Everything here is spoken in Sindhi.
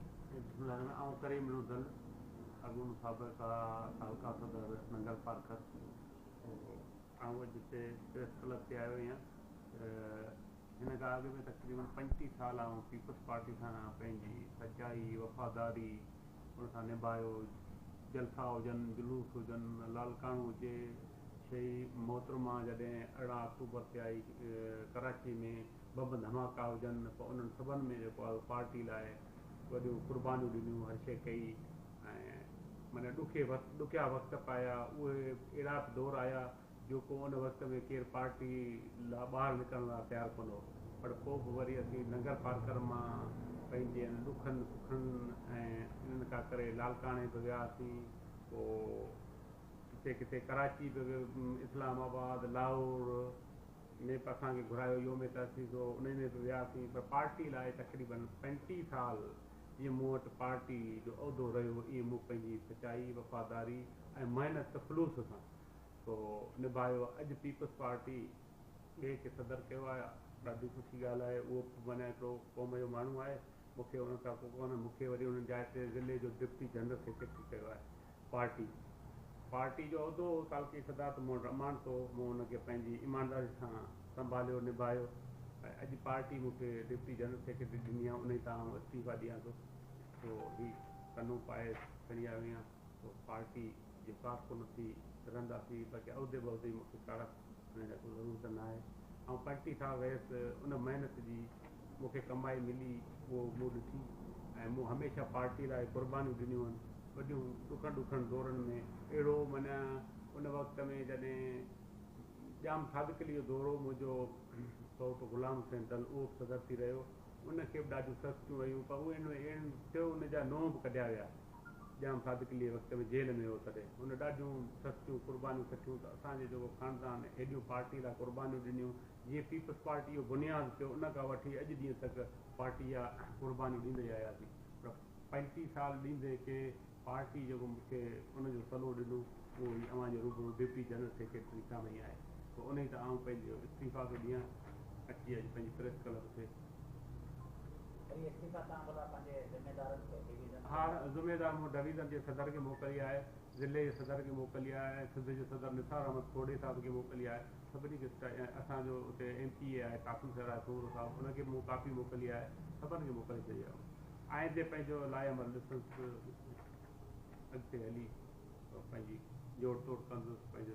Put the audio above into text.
بسم الله الرحمٰن آئون ڪريم بن عبدل اڳوڻو سابقه حلقه صدر ننگل پارڪر آئون اڄ هتي پريس ڪلب تي آيو آهيان هن کان اڳ ۾ تقريبن پنجٽيهه سال آئون پيپلز پارٽي سان پنهنجي سچائي وفاداري ان سان نڀايو جلسا هجن جلوس هجن لالڪاڻو هجي شهي محترمه جڏهن ارڙهن آڪٽوبر تي آئي ڪراچي ۾ بمب ڌماڪا هجن ته انهن سڀن ۾ جيڪو آهي پارٽي لاء وڏيون قربانيون ڏنيون هر شيء ڪئي ۽ معنيٰ ڏکي وقت ڏکيا وقت به آيا اهي اهڙا به دور آيا جو ڪو ان وقت ۾ ڪير پارٽي لا ٻاهر نڪرڻ لا تيار ڪونه هو پر پوء به وري اسين ننگر پارڪر مان پنهنجي ان ڏکن سکن ۽ انهن ڪا ڪري لالڪاڻي به وياسين پوء ڪٿي ڪٿي ڪراچي به اسلام آباد لاهور ۾ به اسان کي گهرايو يوم تاسيس هو انهي ۾ به وياسين پر پارٽي لاء تقريباً پنجٽيهه سال جيئن مون وٽ پارٽي جو عهدو رهيو ايئن مون پنهنجي سچائي وفاداري ۽ محنت ته خلوص سان ٿو نڀايو اڄ پيپلز پارٽي ٻئي کي صدر ڪيو آهي ڏاڍي سٺي ڳالهه آهي اهو به معنيٰ هڪڙو قوم جو ماڻهو آهي مون کي ان تان ڪو ڪونه مون کي وري ان جاء تي ضلعي جو ڊپٽي جنرل سيڪريٽري ڪيو آهي پارٽي پارٽي جو عهدو هو تعلقي صدارت مون رمان سو مون ان کي پنهنجي ايمانداري سان سنڀاليو نڀايو ۽ اڄ پارٽي مون کي ڊپٽي جنرل سيڪريٽري ڏني آهي انهي تان آئون استعيفا ڏيان ٿو سو هي ڪنو پائي کڻي آيو آهيان سو پارٽي جو ڪارڪن ٿي رهنداسين باقي عهدي بهدي مون کي ڪارڪ هن جا ڪو ضرور ته ناهي. آئون پرٽي ٿا ويس، ان محنت جي مون کي ڪمائي ملي اهو مون ڏٺي ۽ مون هميشه پارٽي لاء قربانيون ڏنيون آهن، وڏيون ڏکن ڏکن دورن ۾ اهڙو معنيٰ ان وقت ۾ جڏهن ڄام صادق عليء جو دور هو، منهنجو سوٽ غلام حسين دل اهو به صدر ٿي رهيو، ان کي به ڏاڍيون سستيون ويون پر اهي اهڙن ٿيو ان جا نونهن به ڪڍيا ويا. ڄام صادقليء وقت ۾ جيل ۾ هو تڏهن هن ڏاڍيون سستيون قربانيون سٺيون ته اسان جو جيڪو خاندان هيڏيون پارٽيء لاء قربانيون ڏنيون جيئن پيپلز پارٽيء جو بنياد ٿيو ان کان وٺي اڄ ڏينهن تڪ پارٽيء جا قربانيون ڏيندا ئي آياسين پر پنجٽيهه سال ڏيندي ڪي پارٽيء جيڪو مون کي ان جو صلو ڏنو اهو هي اوهان جي روبرو ڊپٽي جنرل سيڪريٽري سامهين آهي پوء انهي تان آئون پنهنجو استعيفيٰ ٿو ڏيان اچي اڄ پنهنجي پريس ڪلب تي هاڻ ذميدار مون ڊويزن جي صدر کي موڪلي آهي، ضلعي جي صدر کي موڪلي آهي ۽ سنڌ جي صدر نثار احمد کوڙي صاحب کي موڪلي آهي. سڀني کي سٽائي ۽ اسان جو اتي ايم پي اي آهي ڪاڪو شهراز سومرو صاحب ان کي به مون ڪاپي موڪلي آهي. سڀن کي موڪلي ڇڏي آهي مون. آئندي پنهنجو لائحه عمل ڏسندس اڳتي هلي پنهنجي جوڙ توڙ ڪندس پنهنجو